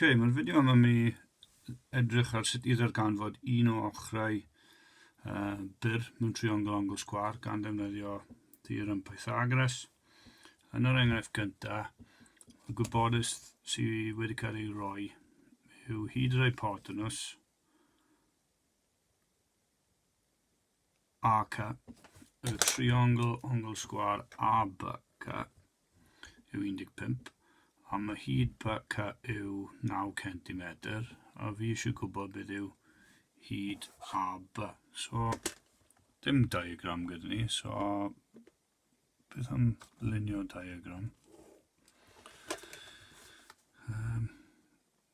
Ok, mae'r fideo yma mi edrych ar sut i ddarganfod un o ochrau uh, byr mewn triongl angl sgwar gan ddefnyddio theorem Pythagoras. Yn yr enghraifft gyntaf, y gwybodus sydd wedi cael ei roi yw hyd yr hypotenws ac a, y triongl ongl sgwâr ABC yw 15, a ma hyd BC yw 9 centimetr, a fi eisiau gwybod beth yw hyd AB. So, dim diagram gyda ni, so beth am lunio diagram? Um,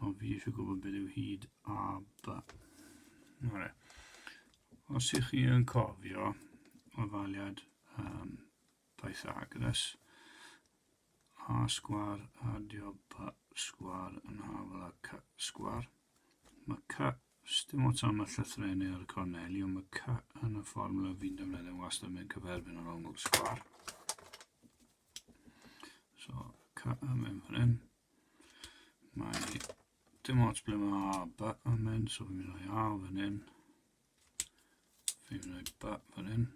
O, fi eisiau gwybod beth yw hyd a ba. Nore. Os ych chi yn cofio o faliad um, Pythagoras, a sgwar adio ba sgwar yn hafel a c sgwar, mae c, dim ots am y llythrenau ar y corneli, ond mae c yn y fformula fi'n defnyddio wastad mewn cyferfyn o'r ongl sgwar. So, c yn mynd fan hyn. Mae dim ots ble mae A ba yn mynd, so fi'n mynd o'i A fan hyn. Fi'n mynd o'i ba fan hyn.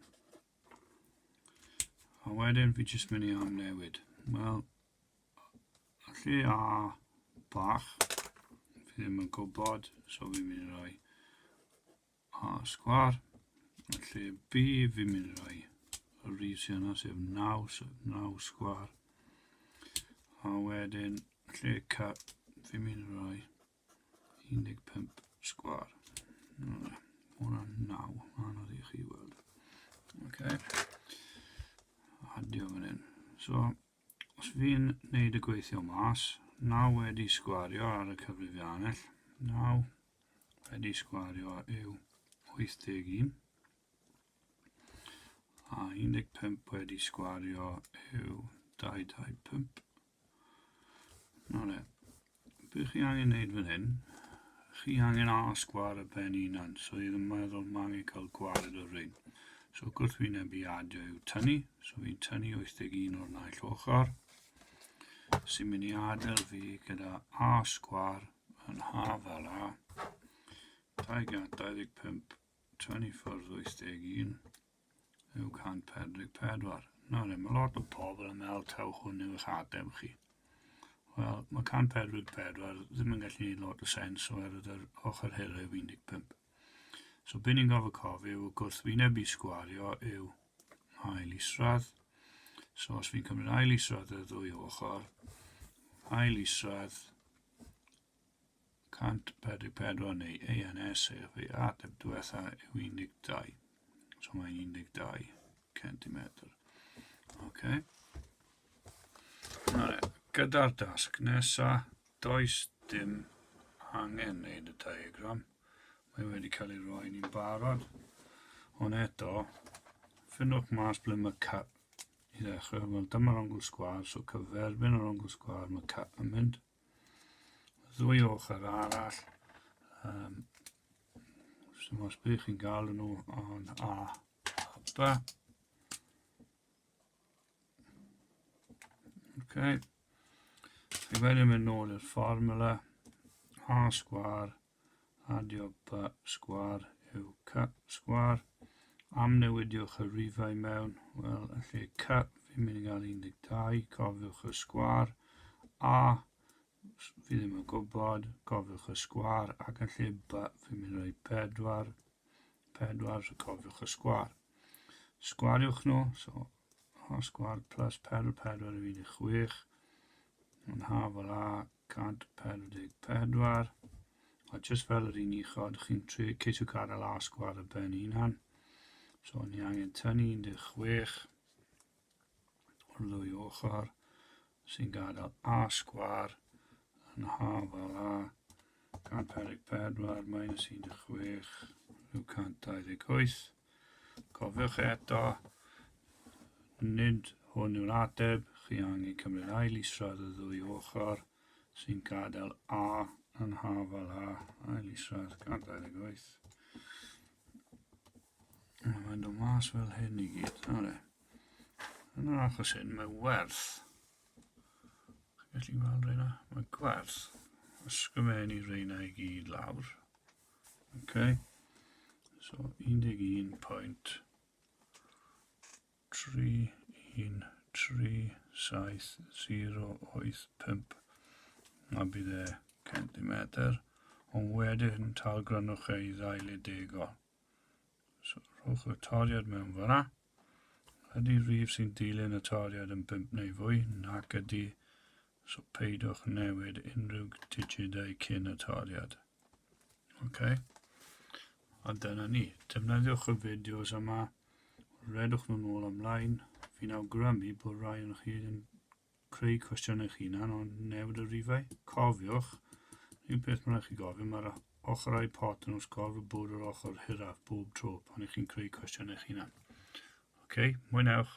A wedyn fi jyst mynd i am newid. Wel, lle A bach, fi ddim yn gwybod, so fi'n mynd i roi A sgwâr, lle fi, fi'n mynd i roi y reason yna, sef 9, so 9 sgwâr. A wedyn, lle ca, fi'n mynd i roi 15 sgwâr. Mae hwnna'n 9, anodd i chi weld. Okay. Adio fan hyn. So, os fi'n neud y gweithio mas, 9 wedi sgwario ar y cyfrifiannell, 9, Wedi sgwario yw 81 a 15 wedi sgwario yw 225. Nawr e, beth chi angen wneud fan hyn, chi angen a sgwar y pen unan, so i ddim meddwl mae angen cael gwared o'r rhain. So gwrthwyneb i adio yw tynnu, so fi'n tynnu 81 o'r naill ochr, sy'n mynd i adael fi gyda a sgwar Yn haf fel a. 225, 24, 81, yw 144. Na ni, mae lot o pobl yn meddwl taw hwn yw eich adem chi. Wel, mae 144 ddim yn gallu gwneud lot o sens oherwydd yr ochr hera yw 15. So, beth ni'n gofio cofio yw gwrthwyneb i sgwario yw ail isradd. So, os fi'n cymryd ail isradd y ddwy ochr, ail isradd 144 neu ANS sef ei ateb diwetha yw 12. So mae'n 12 centimetr. Ok. Nawr, gyda'r dasg nesa, does dim angen wneud y diagram. Mae wedi cael ei roi ni'n barod. Ond eto, ffynwch mas ble mae I ddechrau, wel dyma'r ongl sgwar, so cyferbyn yr ongl sgwar, mae cap yn mynd. Ddwy ochr arall, um, sy'n os bydd chi'n gael nhw o'n A hapa. Ok. Ac wedyn mynd nôl i'r fformula A sgwar, Adio pa sgwâr yw ca sgwâr. Amnewidiwch y rifau mewn, wel, yn lle ca, fi'n mynd i gael 12, cofiwch y sgwâr, a, fi ddim yn gwybod, cofiwch y sgwâr, ac yn lle ba, fi'n mynd i roi 4, 4, so cofiwch y sgwâr. Sgwariwch nhw, so, a sgwâr plus 4, 4 yw 16, yn haf fel a, 144, a jyst fel yr un uchod, chi'n trio ceisio gadael asgw ar y ben hunan. So ni angen tynnu 16 o'r ddwy ochr sy'n gadael asgwar yn hafal a 144 minus 16 rhyw 128 Cofiwch eto, nid hwn yw'r ateb, chi angen cymryd ail israd y ddwy ochr sy'n gadael A yn hafal A, ail israd 128. Mae'n dod mas fel hyn i gyd. Are. Yn yr achos hyn, mae werth. Chi'n gallu gweld reina? Mae gwerth. Ysgrifennu reina i gyd lawr. Okay. So 11.3137085 a bydd e centimetr ond wedyn talgrynwch ei ddail i degol. So rhowch y toriad mewn fyna. Ydy rhif sy'n dilyn y taliad yn bump neu fwy? Nac ydy, so peidiwch newid unrhyw digidau cyn y taliad. Ok, a dyna ni. Defnyddiwch y fideos yma, redwch nhw'n ôl ymlaen. Fi'n awgrymu bod rhai yn chi yn creu cwestiwn eich hunan o newid y rifau. Cofiwch, un peth mae'n rhaid chi gofio, mae'r ochrau pot yn wrth gorf y bwrdd yr ochr hiraf bob tro pan ych chi'n creu cwestiwn eich hunan. OK, mwynhewch!